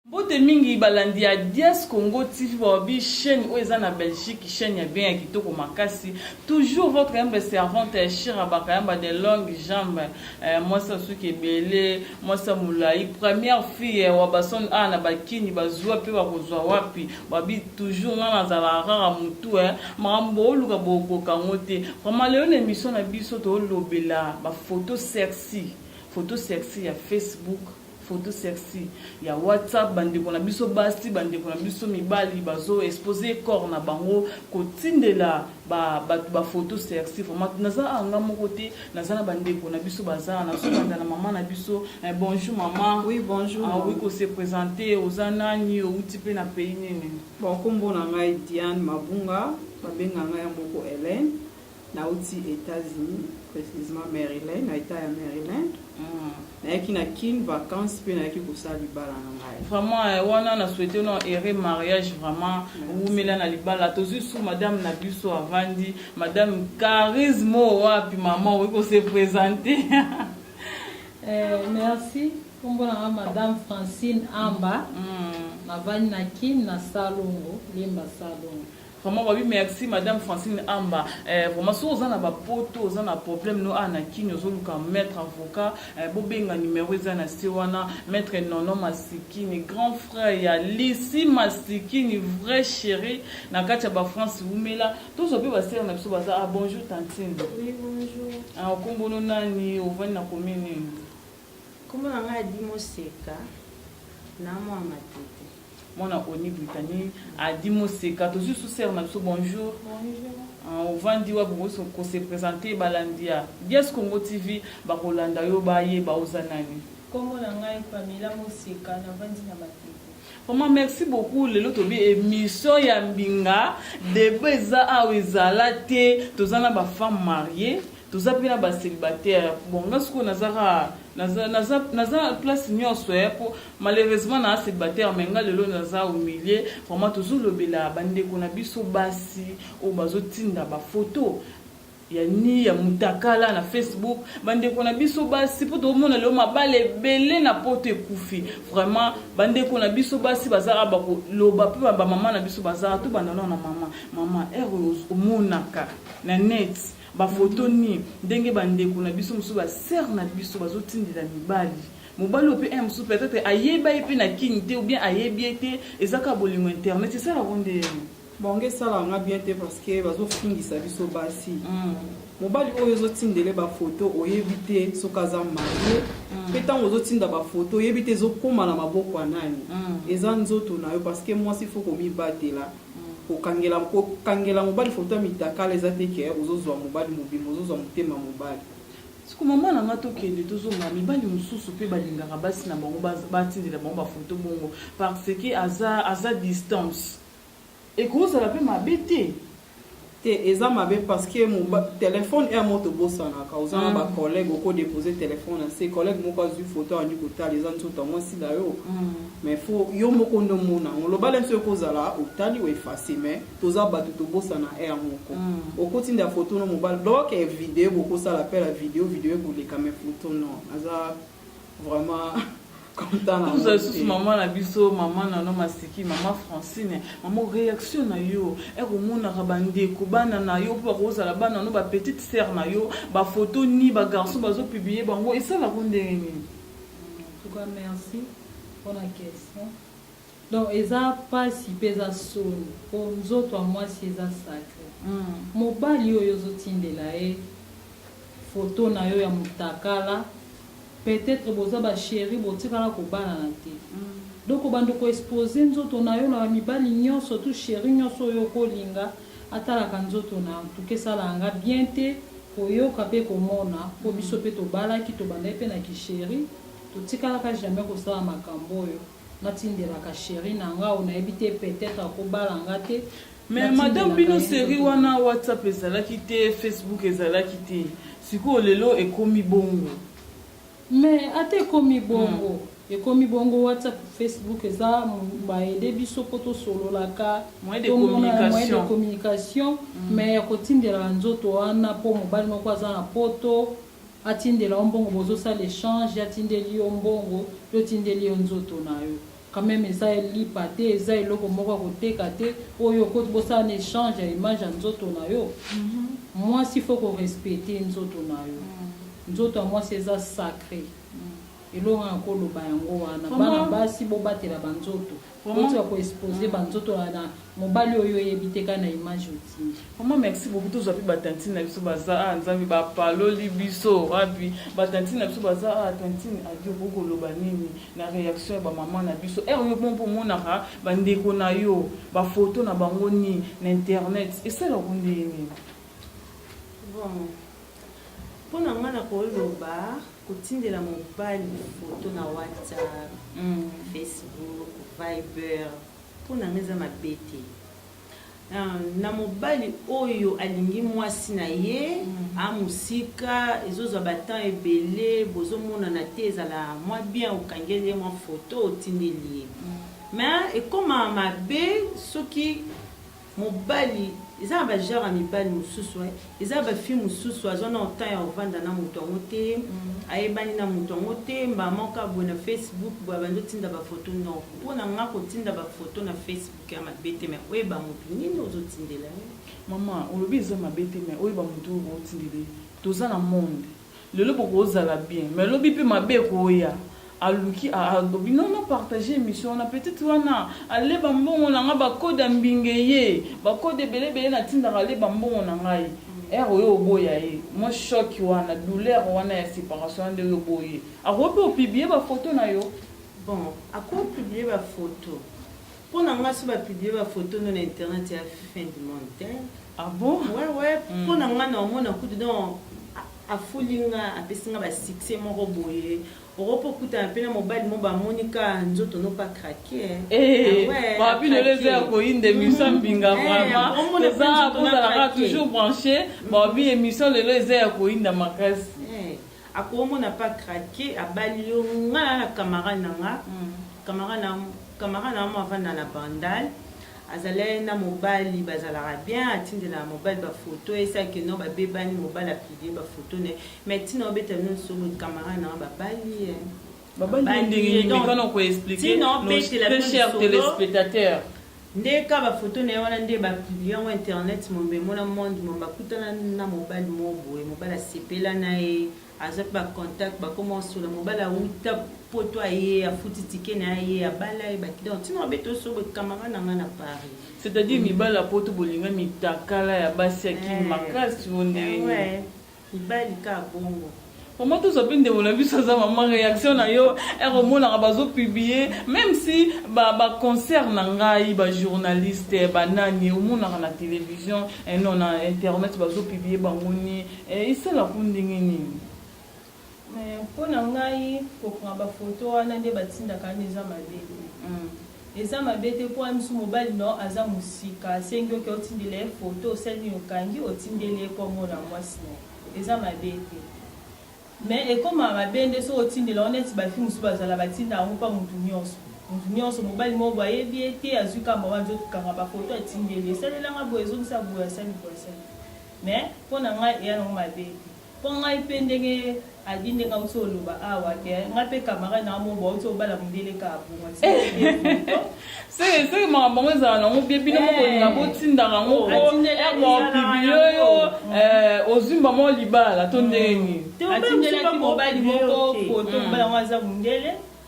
Mbote mingi balandi ya Dias Congo TV bawabi chaîne oyo eza na Belgique chaîne ya bien ya kitoko makasi toujours votre humble servante ya Shira Bakayamba de longue jambe eh, mwasi ya suki ebele mwasi ya molai première fille ya Wabason a na bakini bazwa mpe bakozwa wapi babi toujours nga nazala rara mutu eh, makambo booluka bokoka yango te vraiment lelo na émission na biso toolobela bafoto sexy foto sexy ya Facebook Photo sexy ya WhatsApp, bandeko na biso basi, bandeko na biso mibali bazo expose corps na bango kotindela ba bato ba photo sexy. Vraiment naza awa nga moko te, naza na bandeko na biso baza awa, nazobanda na mama na biso. Eh, bonjour mama. Oui, bonjour. Ah, oui, ko se présenter, oza nani, outi pe na pays nini? Bon, kombo na ngai Diane Mabunga, babenga ngai ya moko Hélène. Nawuti Etats-Unis, precisement Maryland, na Etat ya Maryland. Nayaki na Kin vacances mpe nayaki kosala libala na ngai. Vraiment eh, wana na souhaite no heureux mariage vraiment wumela na libala tozui su madame na biso avandi madame charisme oyo wapi mama okoki ko se présenter eh, merci kombo na nga madame Francine Amba mm. navandi na Kin na Salongo Limba Salongo Vraiment babi merci madame Francine Amba eh, vraiment soki oza na ba poto oza na problème no awa na kini ozoluka maître avocat eh, bobenga numero eza na se wana maître Nono Masikini grand frère ya Lisi Masikini vrai chéri na kati ya ba France wumela tozwa mpe basere na biso baza ah bonjour tantine Oui, bonjour. ah, okombono nani ovandi na commune nini Comment on a dit Moseka na moi matete. Mwana Oni Brittany adi moseka tozui lisusu sœur na biso bonjour. Bonjour. Ah, ovandi wapi okoki kose presente balandi ya dias congo tv bakolanda yo bayeba oza nani nkombo na ngai pamela moseka navandi na matete Vraiment merci beaucoup lelo tobi émission ya mbinga deba eza awa ezala te toza na ba femme marie toza mpe na ba célibataire bon nga sikoyo nazaka naza naza naza place nyonso ya eh, po malheureusement na célibataire mais nga lelo naza au milieu vraiment tozolobela bandeko na biso basi oyo bazotinda bafoto ya ni ya mutakala na facebook bandeko na biso basi mpo tokomona lelo mabala ebele na poto ekufi vraiment bandeko na biso basi bazaka bakoloba mpe bamama na biso bazaka tobanda nao na mama mama ere omonaka na net Ba photo ni ndenge ba ndeko na biso mosusu ba sœur na biso bazo tindela mibali mobali oyo pe un mosusu peut etre ayeba ye pe na kin te ou bien ayebi ye te eza kaka bolingo internet esala ko nde bango esala nga bien te parce que bazo fingisa biso basi mm. mobali oyo ozo tindele ba photo oyebi te soki aza marie mm. pe tango ozo tinda ba photo oyebi te ezo koma na maboko ya nani mm. eza nzoto na yo parce que mwasi faut komibatela Kokangela kokangela mobali photo ya mitakala eza te que ozo zua mobali mobimba ozo zua motema mobali. Siko maman na nga tokende tozonga mibali mususu pe balingaka basi na bango batindela bango ba photo bongo parce que aza aza distance ekozala pe mabe te te eza mabe parce que telephone heure moko tobosanaka oza na ba collègue oko depose telephone na se collègue moko azwi photo andi kotala eza nzoto ya mwasi na yo mais fo yo moko nde omona yango lobala nso ekozala otali o efase mais toza bato tobosana heure moko okotinda photo no mobali donc video bokosala pela video video ekoleka mais photo non aza Vraiment. toza lisusu mama na biso mama nano masiki mama francine mama réaction na yo ekomonaka bandeko bana na yo mpo bakozala bana no bapetite sere na yo bafoto ni bagarçon bazopiblie bango esalako ndenge nini merci mpona question Donc eza pasi pe eza soni po nzoto ya mwasi eza sacre. Mobali oyo ozo tindela ye photo na yo ya mutakala peut etre boza ba cherie bo tikala ko balana te donc obanda ko expose nzoto na yo na ba mibali nionso tout cherie nionso oyo oko linga atalaka nzoto na yo en tout cas esalaka nga bien te ko yoka pe ko mona po biso pe to balaki to bandaki pe na ki cherie to tikalaka jamais ko sala makambo oyo. natindelaka cheri na nga oyo nayebi te peut-être akobala nga te mais madame bino seri wana whatsapp ezalaki te facebook ezalaki te sikoyo lelo ekomi bongo mais ata ekomi bongo hmm. ekomi bongo whatsapp facebook eza baede biso mpo tosololaka moyen de communication hmm. mais ya kotindelaka nzoto wana mpo mobali moko aza na poto atindela yo mbongo bozo sala echange ye atindeli yo mbongo yo otindeli ye nzoto na yo quand meme eza lipa te eza eloko moko ya koteka te oyo okoti bosala na echange ya image ya nzoto na yo mwasi faut ko respecter nzoto na yo nzoto ya mwasi eza sacre eloko nga nako loba yango wana bana basi bobatela ba nzoto. Vraiment. Otika ko expose ba nzoto ya na mobali oyo oyebi te kaka na image otindi. Maman merci beaucoup tozwa pe ba tantine na biso baza ah nzambe ba paloli biso wapi ba tantine na biso baza ah tantine adi okoki koloba nini na reaction ya ba maman na biso heure yo mpo omonaka ba ndeko na yo ba photo na bango ni na internet esala ko ndenge nini bon mpo na ngai nakoloba Kotindela mobali photo na WhatsApp, Facebook, Viber mpo na nga eza mabe te. Na mobali oyo alingi mwasi na ye a mosika, ezozwa ba temps ebele bozomonana te, ezala mwa bien okangeli ye mwa photo otindeli ye. Mais ekoma mabe soki Mobali eza na ba genre ya mibali mususu hein eza ba fille mususu azwa nao temps ya kovanda na mutu yango te ayebani na mutu yango te mbala moko kaka boye na Facebook boye abandi otinda ba photo non pona nga kotinda ba photo na Facebook eza mabe te mais oyeba mutu nini ozo tindela ye. Maman olobi eza mabe te mais oyeba mutu oyo otindela ye toza na monde. Lelo bokozala bien mais lobi pe mabe ekoya aluki a alobi non na partage emission wana petite wana alle ba mbongo na nga ba code ya mbinge ye ba code ebele ebele na tindaka alle ba mbongo na ngai heure oyo oboya ye moi choc wana douleur wana ya separation wana nde yo oboyi ye akoki pe o publie ba photo na yo bon ako publie ba photo Pona nga soki ba publie ba photo no na internet eya fin du monde te. Ah bon? Ouais ouais, mm. pona nga na omona kutu donc afuli nga apesi nga ba succès moko boye okoki okutana mpe na mobali mo bamoni ka nzoto no pa krake eh, eh, ah bino leza ya koyinda émission mm. mbinga eh, vraiment eza bozalaka toujours branché babi émission lelo eza ya koyinda makasi Akomona pa craque abali yo nga na na camarade na nga camarade na camarade na nga moko avanda na bandal azala ye na mobali bazalaka bien atindelaka mobali ba photo ye sa que non ba bebani mobali a publie ba photo na ye mais tina obeta no solo camarade na nga babali ye babali ye ndenge nini mekano ko explique nos très chers telespectateurs Nde ka ba photo naye wana nde ba publie yango internet mobimba emona monde mobimba akutana na mobali moko boye mobali asepela naye azwa pe ba contact bakoma kosolola mobali awuta poto aye afuti ticket naye aye abala ye ba clients tina obeta osobe camarade na nga na Paris C'est-à-dire mibali ya poto bolinga mitakala ya basi ya kin makasi ou ndenge nini? Mibali ka bongo. Maman tosa pe ndeko na biso aza maman reaction na yo heure omonaka bazo publier meme si ba ba concert na ngai ba journaliste ba nani omonaka na television eh non na internet bazo publier bango ni eh, esala ko ndenge nini Mais pona ngai ko prend ba photo wana nde ba tindaka wana eza mabe te eza mabe te po wana misu mobali na yo aza musika asengi yo ke otindela ye photo osali nini okangi otindeli ye po amona muasi na ye eza mabe te mais ekomaka mabe nde soki otindela yango neti ba fille mususu bazala ba tindaka yango pa mutu nionso mutu nionso mobali moko boye ayebi ye te azui kaka maman nzoto kanga ba photo atindeli yo esalela nga boye zongisa boye asali boye asali mais pona ngai eya na ngo mabe te. Po ngai pe ndenge Adi ndenge awuti oloba awa ke ngai pe camarade nanga moko bawuti obala mundele kaka bongo ti lelo to Soki soki makambo yango ezala nango bien bino moko bolinga botindaka yango po heure baopublie yo eh, ozwi mbama oyo libala to ndenge nini? Atindelaki mobali moko foto mobali yango aza mundele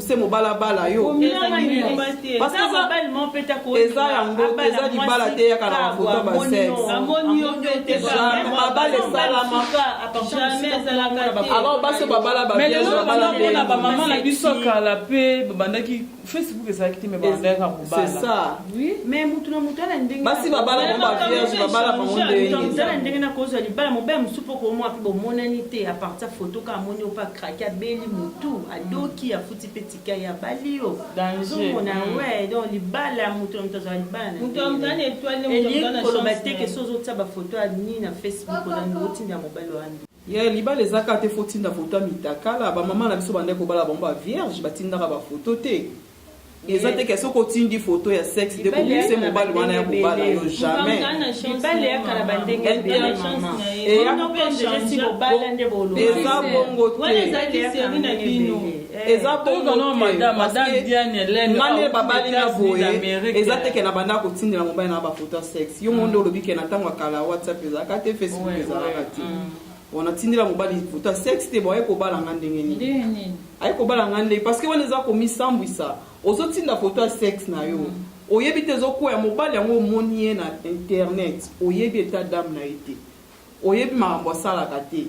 se mobala bala yo eza yango eza libala te yaka na mafoto ya basexmabala esalamaalor basi babala babalaona bamama na biso kala mpe babandaki facebook ezalaki te me babandaka kobalabasi babala bango bavierge babala bango ndenge nakozwa libala mobala mosusu mpo komwa mpe bomonani te apartir foto ka amoni ope akraki abeli motu doki afuti pe tika ye abali yo nzungu na mm. we donc libala ya moto na moto azala libala naelie koloba te ke so ozotia bafoto ya nini na facebook olandi otinda mobali wani ye yeah, libala ezaka te fo tinda foto ya mitakala bamama na biso bandaki kobala bango bavierge batindaka bafoto te eza te ke soki otindi photo ya sexe de kokuse mobali wana ya kobala yo jamais eza bongo temanele babali na boye eza te ke na banda kotindela mobali na baphoto ya sexe yo monde olobi ke na ntango ya kala whatsapp ezalaka te facebook ezalaka te wana tindela mobali liputa sexe te boye kobala nga ndenge nini aye kobala nga ndenge parce que wana eza komisambwisa ozotinda foto ya sexe na yo mm. oyebi te ezokwea mobali yango omoni ye na internet oyebi eta dame na ye te oyebi makambo asalaka te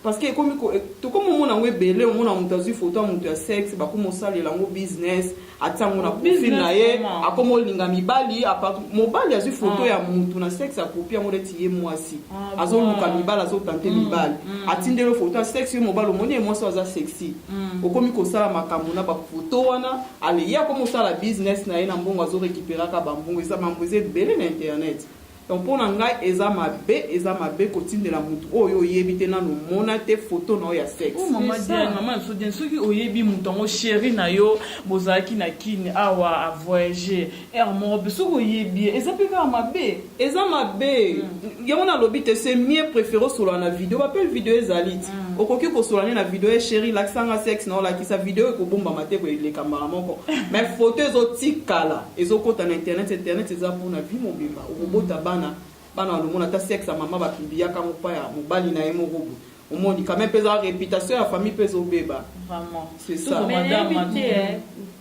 parce que ekomi tokomi omona yango ebele omona moto azwi foto ya moto ya sexe bakomi osalela yango business atia yango na profil na ye akoma olinga mibali mobali azwi foto ah. ya mutu na sexe akopi yango neti ye mwasi ah, azoluka mibali azotante mm, mibali mm. atindeli foto ya sexe ye mobali omoni ye mwasi aza sexy mm. okomi kosala makambo na bafoto wana ale ye akomi osala business na ye na mbongo azorekiperaka bambongo eza mambo eza ebele na internet Donc pona ngai eza mabe eza mabe kotindela mutu oyo yo oyebi te nanu omona te photo na yo ya sexe. Oh maman Diane, maman na biso Diane, soki oyebi mutu yango cherie na yo bozalaki na kin awa a voyage heure moko pe soki oyebi ye eza pe kaka mabe. Eza mabe yango nalobi te c'est mieux prefere osolola na video ba pelle video ezali ti okoki kosolola ne na video eh cherie lakisa nga sexe na yo lakisa video ekobombama te ekoeleka mbala moko mais photo ezotikala. Ezo kota na internet internet eza pona vie mobimba okobota bana bana balomona ata sexe ya maman ba publiaka ngo pa ya mobali naye moko boye omoni quand meme peza reputation ya famille pe ezo beba vraiment c'est ça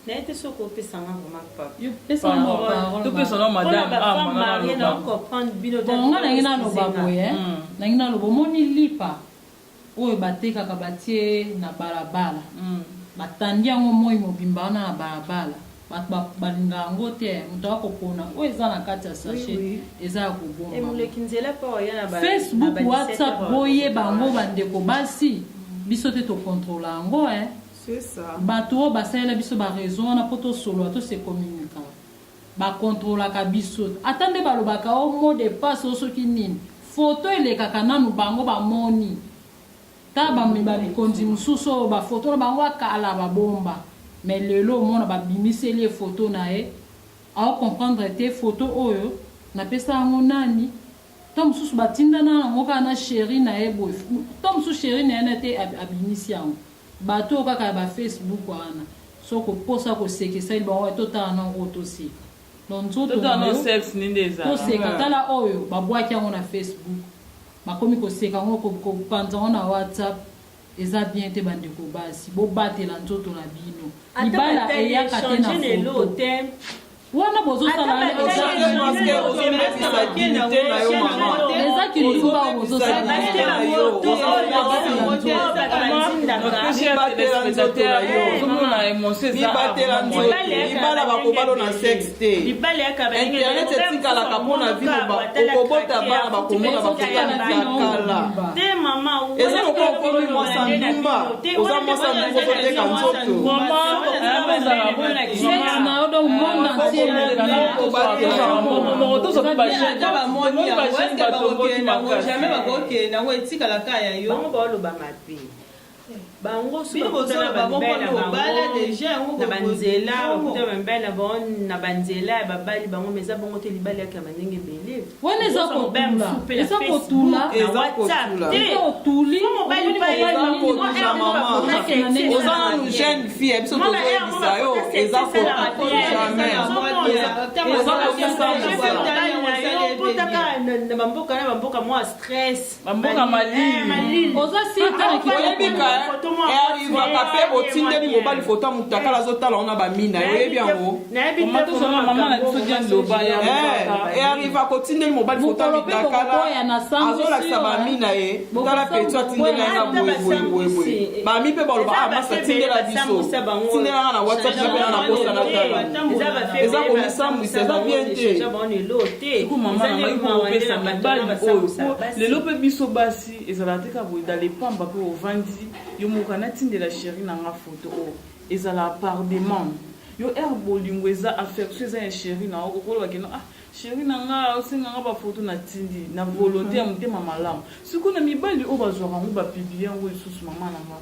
naye te soki opesa nga vraiment papapesanamadammarie na comprendre bino bonga nangi naloba boye nangi naloba omoni lipa oyo batekaka batie na balabala batandi yango moyi mobimba wana na balabala batu balinga yango te mutu aya kopona oyo eza na kati ya sache eza ya kobomba Facebook WhatsApp boyeba yango ba ndeko basi biso te to controla yango hein batu oyo basalela biso ba reseau wana po tosolola to se communica. Ba controlaka biso ata nde balobaka oh mot de passe oh soki nini photo elekaka nanu bango bamoni ta ba mikonzi mususu oyo ba photo na bango ya kala babomba mais lelo omona babimiseli ye photo naye ao comprendre te photo oyo napesa yango nani to mususu batinda na yango kaka na cherie naye boye to mususu cherie naye nate abimisi yango Batu oyo kaka ya ba Facebook wana soki okoposa koseka esali bango wapi totala nao oyo toseka donc nzoto nayo toseka tala oyo babwaki yango na Facebook bakomi koseka ngo kopanza ngo na WhatsApp eza bien te bandeko basi bobatela nzoto na bino libala eyaka te na foto wana bozosala eza kilitumba bozosalaibala bakobalo na sexe te internet etikalaka mpo na vino okobota bana bakomona bakokana kala eza lokola okomi mwasa ndumba oza mwasi ya mbongo ozoteka nzoto bango sokokutana bamibali na bango na banzela bakutana bamibali na bango na banzela ya babali bango ma eza bongo te libali yaka ya bandenge ebele wana eza kotula oza nanu jeune fille ya biso tozoyebisa yo eza kotulamaiozakokisa mosala na bamboka na bamboka mwa stress Bamboka malili. Oza sur te na kitu. Oyebi ka erivaka pe otindeli mobali foto ya mutakala azotala ona bamina oyebi yango eriva kotindeli mobali foto ya mutakala azolakisa bamina ye tala petu atindeli yanga boyeboyeboyeboye bami mpe baloba a masa tindela biso tindela nga na whatsapp napena na posa na tala eza komisambwisa eza bien te te eko mama na ngai ko pesa mibali oyo po lelo pe biso basi ezala te ka boye dans les pamba pe ovandi yo moko kana tindela chérie na nga photo oyo ezala par demande yo er bolingo eza affection eza ya chérie na yo okoloba keno ah chérie na nga osenga nga ba photo na tindi na volonté ya motema malamu sikoyo na mibali oyo bazwaka yango ba publie yango lisusu mama na nga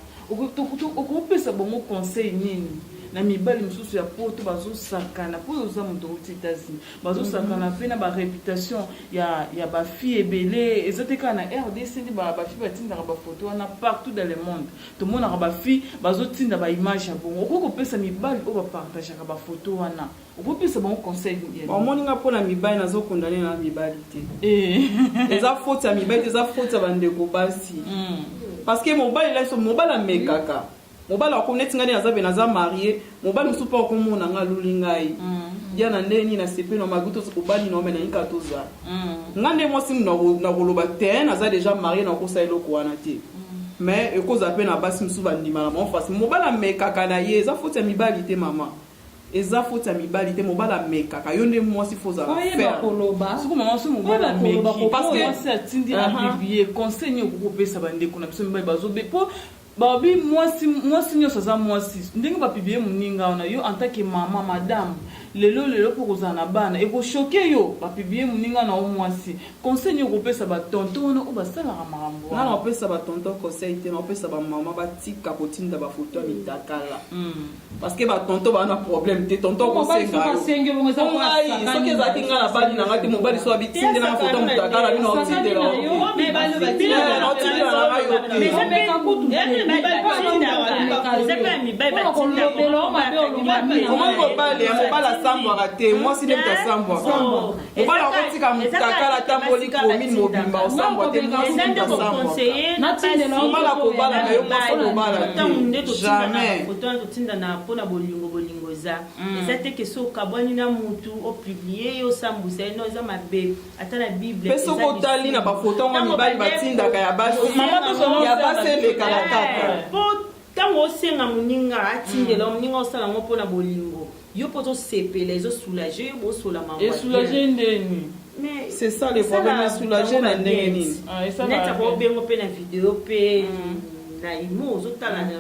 okopesa bango conseil nini na mibali mosusu ya poto bazosakana mpo oza moto outi etats-unis bazo sakana mpe na ba reputation ya, ya ba fille ebele eza te kaka na rdc nde ba, ba fille batindaka ba photo wana partout dans le monde tomonaka ba fille bazotinda ba image ya bongo okoki kopesa mibali oyo bapartageaka ba photo wana okoki kopesa bango conseil omoni nga mpo na mibali nazokondane na mibali te eh. eza foti ya mibali te eza foti ya bandeko basi mm. parce que mobali laiso mobali amekaka mm. Mobali wako neti nga nde naza pe naza marie mobali mususu pe wako mona nga aluli ngai Diana nde ni na sepeli na magu to obali na omena nika to za nga nde mwasi muna na koloba tein naza deja marie na kosa eloko wana te mais eko za pe na basi mususu ba ndima na bango fasi mobali amekaka na ye eza foti ya mibali te mama eza foti ya mibali te mobali amekaka yo nde mwasi fo za faire koloba soko mama so mobali ameki parce que atindi na bibie conseil ni okopesa ba ndeko na biso mibali bazo be po Balobi mwasi mwasi nyonso aza mwasi ndenge ba publier muninga wana yo en tant que maman madame lelo lelo po kozala na bana eko choquer yo ba publier muninga na yo mwasi conseil nini okopesa ba tonton wana oyo basalaka makambo wana na pesa ba tonton conseil te na pesa ba maman batika kotinda ba photo ya mitakala parce que ba tonton ba na problème te tonton ko senga yo ngai soki ezalaki ngai na bali na ngai te mobali so abi tinde na foto mutaka na bino otinde la yo mais ba lo ba tinde la yo te mais ça peut ka kutu ya mais ba ba ko lo na wa c'est pas mi ba ba ko lo belo ma be lo ma mi comment ko bali ya mobala sambwa te moi si ne ta sambwa mobali akotika mutakala atamboli commune mobimba osambwa te mobala kobala na yo mwasi kobala jamais totindana mpo na bolingo bolingo eza mm. eza te kesi okabwani na mutu opiblie ye osambwisa ye no eza mabe ata na bible mpe soki otali na bafoto yango mibali batindaka ya basi ya basi elekaka kaka eh, Ntango osenga moninga atindela yo, moninga osala yango mpo na bolingo, yo mpe ozosepela, ezo soulager yo, bosolama yango ya bien. Esoulager ndeni? Mais C'est ça le esala problème, ya soulager bango na ba ndenge net. nini? Ah, esala Net ya ako bien. obengo mpe na video mpe na imo ozotala na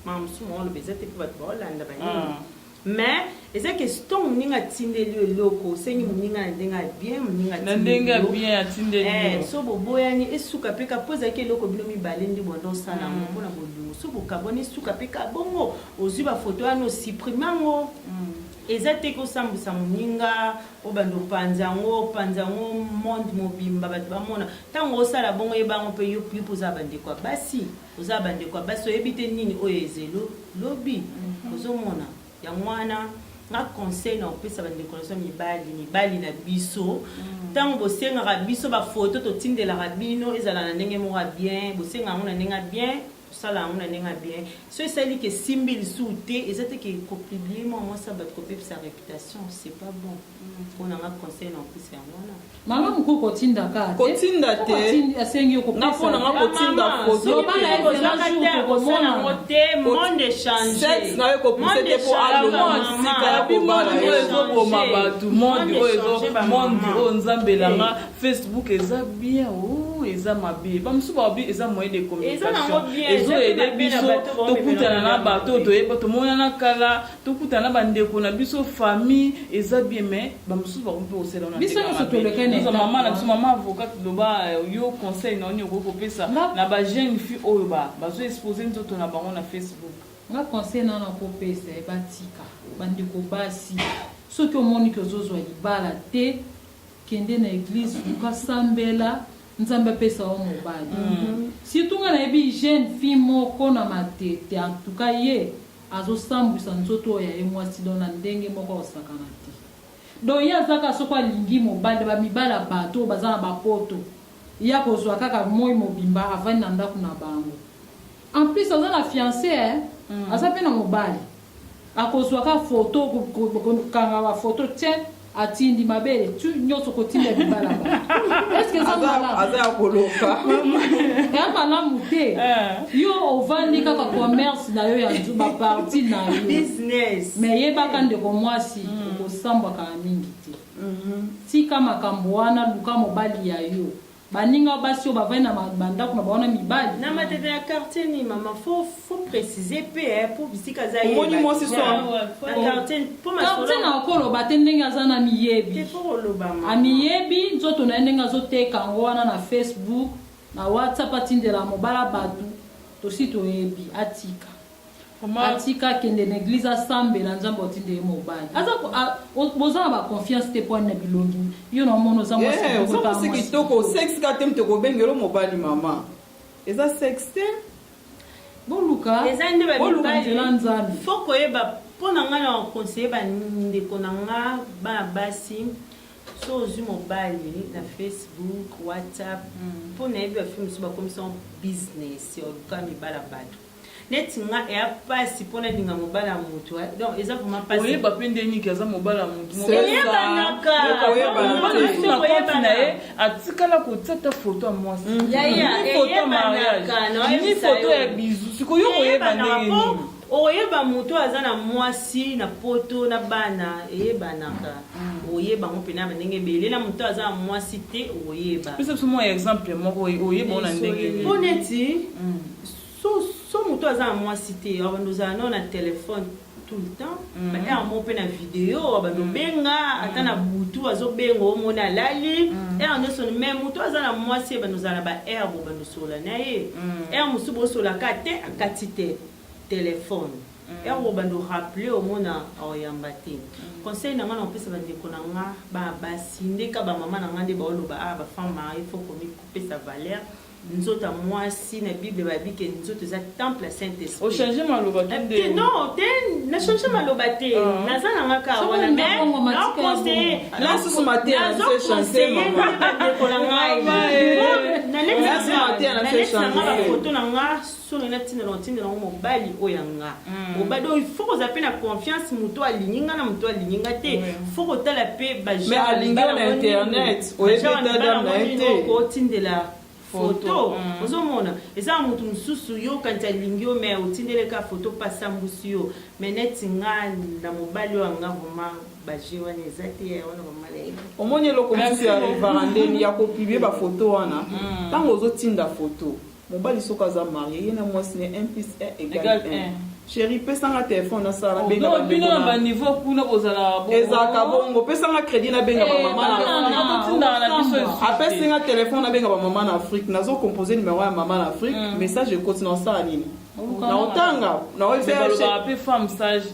makambo mosusu maoloba eza te mpe bato baolanda banini. Ah. Mais eza question muninga atindeli yo eloko osengi muninga na ndenge ya bien muninga na ndenge ya bien atindeli eh, yo eh, so boboyani esuka pe ka po ezalaki eloko bino mibale nde bonda osala yango mm. mpo na bolingo so bokabwani esuka pe ka bongo ozwi bafoto wana osiprime yango mm. eza te kosambwisa moninga obanda opanza yango opanza yango monde mobimba bato bamona ntango osala bongo yebango mpe yo mpe oza bandeko ya basi Oza ba ndeko ya basi oyebi te nini oyo ezelo lobi ozo mona yango wana nga conseil na opesa ba ndeko na biso mibali mibali na biso tango bosengaka biso ba photo totindelaka bino ezala na ndenge moko ya bien bosenga yango na ndenge ya bien tosala yango na ndenge ya bien so esali ke simbi lisusu te eza te ke ko publie mua mwasi ya batu kopepisa reputation c'est pas bon pona nga conseil na opesa yango wana malamu ko kotinda ka te kotinda te asengi yo kopesa pona nga kotinda foto loba na yo zela jour tokomona ngo te monde change sex na yo kopousse te po aloma sika ya kobala oyo ezoboma bato monde oyo ezo monde oyo nzambe langa facebook eza bien oh eza mabe bamosusu balobi eza moyen de communication ezoyede biso tokutana na bato toyeba tomonana kala tokuta na bandeko na biso famille eza bien mais bamosusu bakomi mpe kosela na biso nyonso toleka naza mama na biso mama avocat loba euh, yo conseil na oni okoki kopesa na bajeune fille oyo bazo expose nzoto na bango na facebook nga conseil na nakopesa ye batika bandeko basi soki omoni ke ozozwa libala te kende na eglise luka sambela nzambe apesa yo mobali mm -hmm. surtout nga nayebi jeune fille moko na matete antuka ye Azo sambwisa nzoto oyo ya ye mwasi donc na ndenge moko ako sakana te. Donc ye aza kaka soki alingi mobali na ba mibali ya batu oyo baza na ba poto ye ako zwa kaka moyi mobimba avandi na ndaku na bango. En plus aza na fiance eh aza pe na mobali ako zwa kaka photo ko kanga ba photo tse. atindi mabele tu nyonso kotinda libala bato eske eza malamu aza ya koloka eya malamu te eh. yo ovandi kaka commerce na yo ya baparti na yo me yebaka ndeko mwasi mm. okosambwaka mingi te mhm. tika makambo wana luka mobali ya yo Baninga basi oyo bavandi na bandako na bango na mibali. Na matata ya quartier nini maman faut faut preciser pe eh po bisika za ye. Omoni mwasi so na quartier po masolo. Quartier na ko loba te ndenge aza na miyebi. Te faut koloba maman. Amiyebi nzoto na ye ndenge azo teka yango wana na Facebook na WhatsApp atindela mobala batu tosi toyebi atika. atika akende na eglise asambela nzambe otinde ye mobali aza boza na baconfiance te poani na bilongi yo na omona oza mwasi eh, kitoko sex ka te moto ekobengelo mobali mama eza sex te boluka eza nde babibala nzambe fo koyeba mpo na ngai na conseille bandeko na nga bana basi so ozwi mobali na facebook whatsapp mpo mm. nayebi bafi mosusu bakomisango business ya oluka mibala bato neti nga eya pasi po nalinga mobali ya mutu eh. donc eza vraiment pasi oyeba pe nde niki aza mobali ya mutu oyebanaka oyebanaka na ye atikala kotia ta foto ya mwasi mm. ni foto ya mariage ni foto ya bizu sikoyo koyeba ndenge nini oyeba moto aza na mwasi na poto na bana eyebanaka mm. oyeba yango mpena bandenge ebele na moto aza na mwasi te oyeba pesa biso mwa exemple moko oyeba ona ndenge mpo neti mm. so so moto aza na mwasi te abanda ozala nao na telefone tout le temps mm -hmm. ere moko mpe na video abanda mhm. obenga mm -hmm. ata na mhm. butu azobenga omoni alali mm -hmm. ere nyonso me moto aza na mwasi ebanda ozala na baere bobanda osola na ye mm -hmm. ere mosusu bosolaka te akati te telefone mm. ere bobanda oraple omona aoyamba te mm. conseil na ngai na kopesa bandeko na ngai basi ndeka bamama na ngai nde baoloba a ah, bafama ifo komipesa valeur mm. Nzoto ya mwasi na Bible babi ke nzoto eza temple ya Saint Esprit. O changer maloba ki nde. Eh, non, te na changer maloba te. Ah. Naza na ngaka wana mais na conseiller. Na susu matin na se chanter mama. Na ndeko na ngai. Na leki na ngai. Na leki na ngai photo na ngai. Soni na tinda na otinda na ngo mobali oyo ya nga. Mm. Mobali oyo faut kozala pe na confiance muto alingi nga na muto alingi nga te. Mm. Faut kotala pe ba gens. Mais alingi na internet. Oye pe ta dame na ye te. Ko tindela photo. Mm. Ozo mona eza mutu mususu yo kanti alingi yo mais otindele ka photo pa sambusi yo. Mais neti nga na mobali oyo nga vraiment baje wana eza te ya wana bamalayi omoni eloko mosusu ya varandeni ya kopibie bafoto wana ntango mm. ozotinda foto Mobali soki aza marie ye na mwasi ne 1 plus 1 egal 1 cheri pesa nga telephone na sala benga ba bino na ba niveau kuna bozala bongo ezaka bongo pesa nga credit na benga ba eh, mama na apesi nga telephone na benga ba mama na Afrique nazo composer numero ya mama na Afrique mm. message ekoti na sala nini na otanga na oyo pe femme sage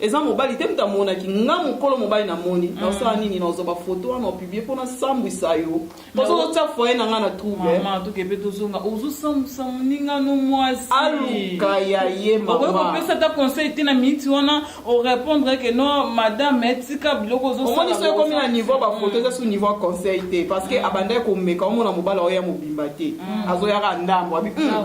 Eza mobali te mutu amonaki nga mukolo mobali na moni na osala nini na ozwa ba photo wana opibie po na sambwisa yo po soki otia foyer na nga na trouble Maman toke pe tozonga ozo sambusa muninga no mwasi. aluka ya ye Okoki mama kopesa ata conseil te na minute wana o répondre que non madame tika biloko ozo sala. omoni so ekomi na niveau ba photo eza su niveau ya conseil te parce que abandaki komeka omona mobali aoya mobimba te azoya kaka ndambu abi "Hum,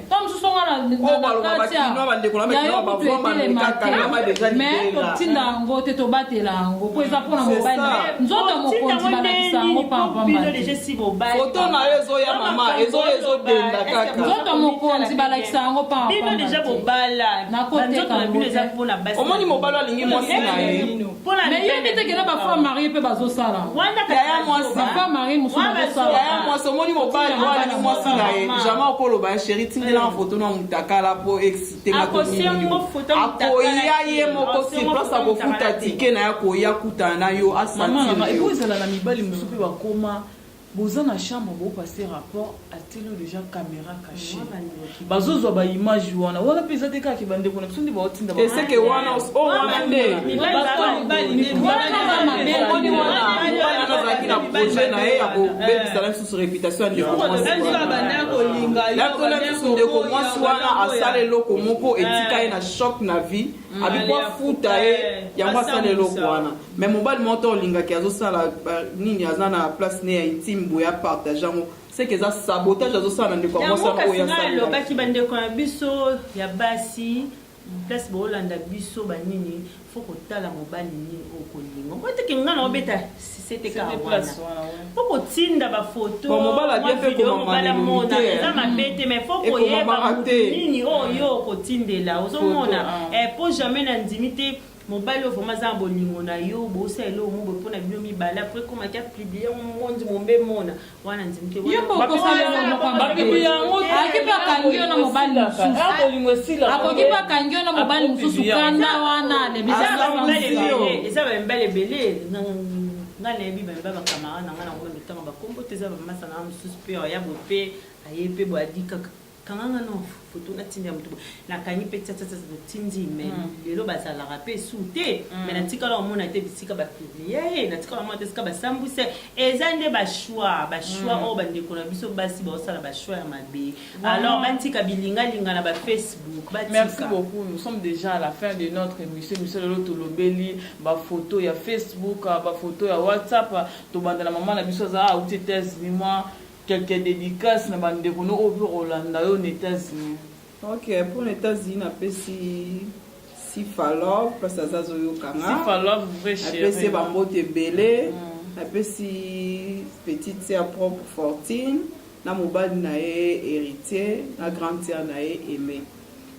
ntango mosusu tonga na kati ya yo kutu etelema te mais totinda yango te tobatela yango mpo eza mpo na mobali nzoto mokonzi balakisa yango pampambafoto na yo ezoya mama ezoya ezodenda kaka nzoto mokonzi balakisa yango pampambaomoni mobali alingi mwasi na ye nayebi te kena bafemme marie mpe bazosala yaya mwasibafemme marie mosusu bazosalaya mwasi omoni mobali wana ni mwasi na ye jamai okoloba ya sheri tindelanga foto na motakala mpo excite ngakoya ye moko surplace akofuta tike na ye akoya kutana na yo asantiezala na mibali mosusu mpe bakoma Boza na chambre bo passer rapport atieli yo dejà camera cache bazo zwa ba image wana wana pe eza te kaka ba ndeko na biso nde bao tinda ba Ese ke wana os- o wana nde omoni wana wana azalaki na projet na ye ya kobebisala lisusu reputation ya ndeko mwasi wana. nakola lisusu ndeko mwasi wana asala eloko moko etika ye na choc na vie Mm, abiko Mali afuta afuta, ye eh, yango asala asambwisa. eloko wana me mobali moko to olingaki azosala ba- nini aza na place ne ya intime boye apartage yango seke eza sabotage azosala na ndeko ya mwasi yango yango oyo kasi ngai asalelaki alobaki bandeko na biso ya basi place boolanda biso banini fo kotala mobali nini okolinga okoyeteke ngai naobeta C'était ka C'était wana. place wana, ouais. Faut kotinda ba photo, Bon, mobala mwa bien pe video, komama mobala na limite, mona, hein. eza mabe te, mais faut Ekomamaka koyeba moto te. nini oyo yo okotindela. Ozomona, Photo, ah. eh, po jamais na ndimi te mobali oyo vraiment aza na bolingo na yo bosa eloko moko boye mpo na bino mibale apres komaki apiblie yango mondi mombe mona wana nzimke Yo mpe okosala yo na moko ya mabe. Babibi yango te. Akoki mpe akangi yo na mobali mosusu. Ah, bolingo esilaka. Akoki mpe akangi yo na mobali mosusu Akoki kanda wana eza lebisa ba mibali sansi yo. ebele eza ba mibali ebele nga nga nayebi ba mibali bakamara na nga na ngoma mitanga bakombo te eza bamasa na nga mosusu mpe oya bope aye mpe boadi kaka kanga nga non photo na tindi ya mutu boye na kangi pe tsatsatsat na tindi mais mm. lelo bazalaka pe su te mm. mais na tikala omona te bisika ba publie ye na tikala omona te sika ba sambwisa eza nde ba choix ba choix mm. oyo oh, ba ndeko na biso basi ba osala ba choix ya mabe alors ba tika bilinga linga na ba facebook ba tika merci beaucoup nous sommes déjà à la fin de notre émission monsieur lelo to lobeli ba photo ya facebook ba photo ya whatsapp to banda na maman na biso za a uti test ni moi Quelques dedicaces na ba ndeko no oyo pe kolanda yo na Etats Unis. Ok pour na Etats Unis na pesi Sifa Love parce aza zo yoka nga. Sifa Love vrai chérie. Na pesi ba mbote ebele. Mm. Na pesi petite sœur propre Fortune na mobali na ye Héritier na grande sœur na ye Aimée.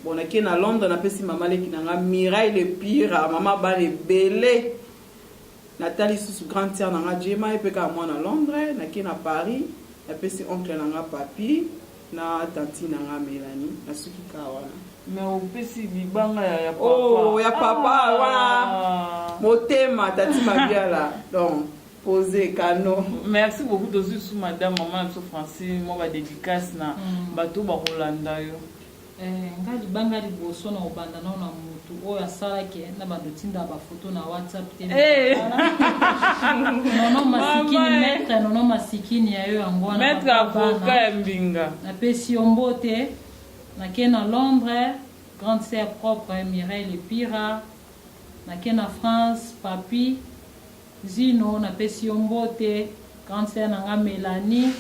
Bon na ke na Londres na pesi mama leki na nga Mirai le pire, mama bana ebele. Natali lisusu grande sœur na nga Gemma, ye pe kaka mwana Londres. Nake na Paris, napesi oncle na nga Papy na tantine na nga Melanie. Nasuki kaka wana. Mais opesi libanga ya ya papa. Oh, ya papa ah. wana motema tati mabiala donc pose kano merci beaucoup tozwi su madame mama na biso francine mwa badédicace na mm. bato bakolanda yo Eh nga libanga liboso na obanda nao na mutu oyo asala ke na bando tinda ba photo na WhatsApp te. Eh. Nono masikini maître nono masikini ya yo yango na maître avocat ya mbinga. Na pesi yo mbote na ke na Londres grande sœur propre Mireille Lepira na ke na France papi Zino na pesi yo mbote grande sœur na nga Melanie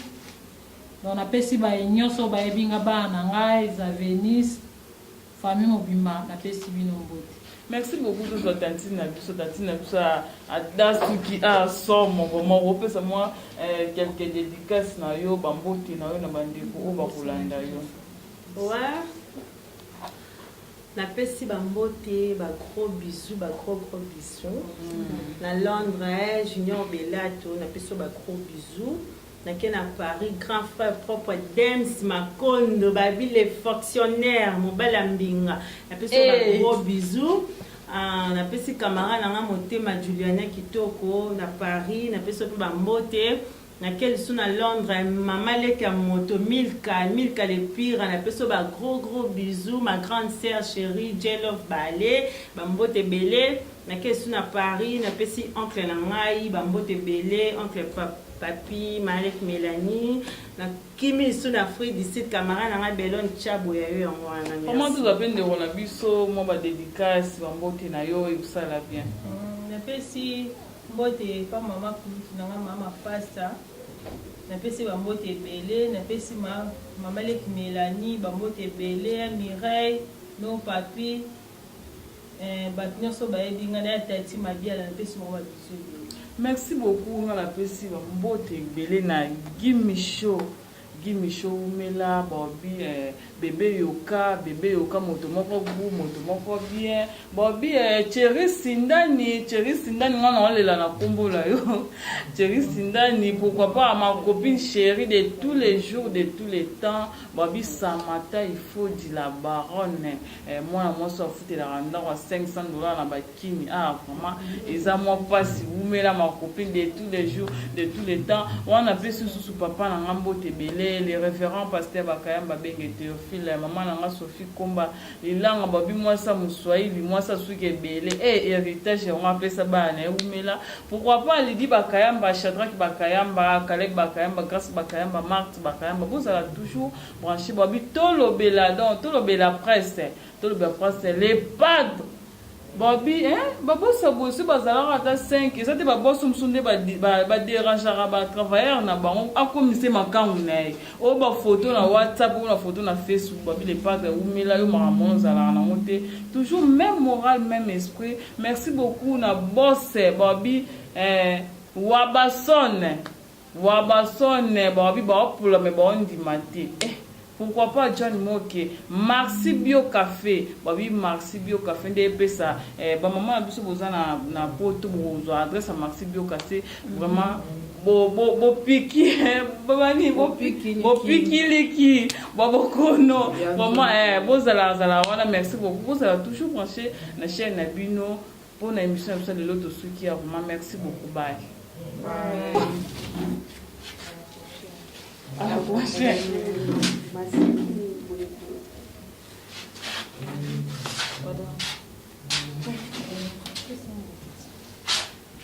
Donc na pesi baye nioso oyo bayebi nga bana na nga eza Venise famille mobimba na pesi bino mbote. Merci beaucoup tozwa tantine na biso tantine na biso ata soki a somo vraiment opesa mwa eh, quelques dédicaces na yo bambote na yo na bandeko oyo bakolanda yo ouais. napesi bambote bagros bisou bagros gros bisou mm. na londres eh, junior belato napesi yo bagros bisou Na ke na Paris grand frère propre Dems Makondo Baby le fonctionnaire mobali ya mbinga na pesi yo ba Hey. gros bisous. Ah, na pesi camarade na nga motema Juliana Kitoko na Paris na pesi yo pe ba mbote. Na ke lisusu na Londres mama leki ya moto Milka Milka le pire na pesi yo ba gros gros bisous ma grande sœur cherie J-Love Bale ba mbote ebele. Na ke lisusu na Paris na pesi oncle na ngai ba mbote ebele oncle Pap Papy, Marie Melanie, na kimi lisusu na Afrique du Sud, camarade na ngai Belon Tshiabo ya yo yango wana. Merci. Maman tozwa pe ndeko na biso mwa ba dedicace ba mbote na yo ekosala bien. Hum, napesi mbote epa mama kulutu na nga mama Fasta, napesi ba mbote ebele, napesi ma mama leki Melanie ba mbote ebele, Mireille, non Papy, Eh batu nioso bayebi nga naya tati mabiala napesi bango ba bisous ebele. Merci beaucoup nga napesi ba mbote ebele na Gimmy show Gimmy show wumela baobi eh, bebe yoka bebe yoka moto moko gout moto moko bien baobi eh, Thierry Sindani Thierry Sindani nga naolela na kombo na yo Thierry Sindani pourquoi pas ma copine chérie de tous les jours de tous les temps baobi Samata Ifodi la baronne Eh, mwana mwasi afutelaka ndako ya 500 dollars na bakini ah vraiment eza mwa mpasi wumela ma copine de tous les jours de tous les temps wana mpe sususu papa na nga mbote ebele le référent pasteur bakayamba benge théophile mama na nga sophie komba lilanga babi mwasi ya moswahili mwasi asuki ebele e eh, héritage yango apesa bana na ye wumela pourquoi pas lidi bakayamba shadraki bakayamba kaleb bakayamba grace bakayamba marte bakayamba bozala toujours Branche bobi tolobela donc tolobela presse tolobela presse le padre bobi hein babosa bosu bazalaka ata 5 eza te baboso mosusu nde baderangeaka batravailleur na bango akomise makangu na ye oyo bafoto na whatsapp oyo na foto na facebook bobi le padre ewumela yo makambo wana ozalaka nango te toujours même moral même esprit merci beaucoup na bose bobi eh, wabasone Wabason balobi baopola mais baondima te eh pourquoi pas John Moke, Marci Bio Cafe balobi Marci Bio Cafe nde epesa eh, ba maman na biso boza na na poto bokozwa adresse ya Marci Bio Cafe vraiment bo bo bo piki bani bo piki bo piki liki bo bokono vraiment eh bozala zala wana merci beaucoup bozala toujours branché na chaîne na bino Pona emission na biso lelo tosuki ya roma merci beaucoup bye. À la prochaine.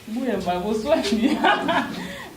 Buya mbago swani.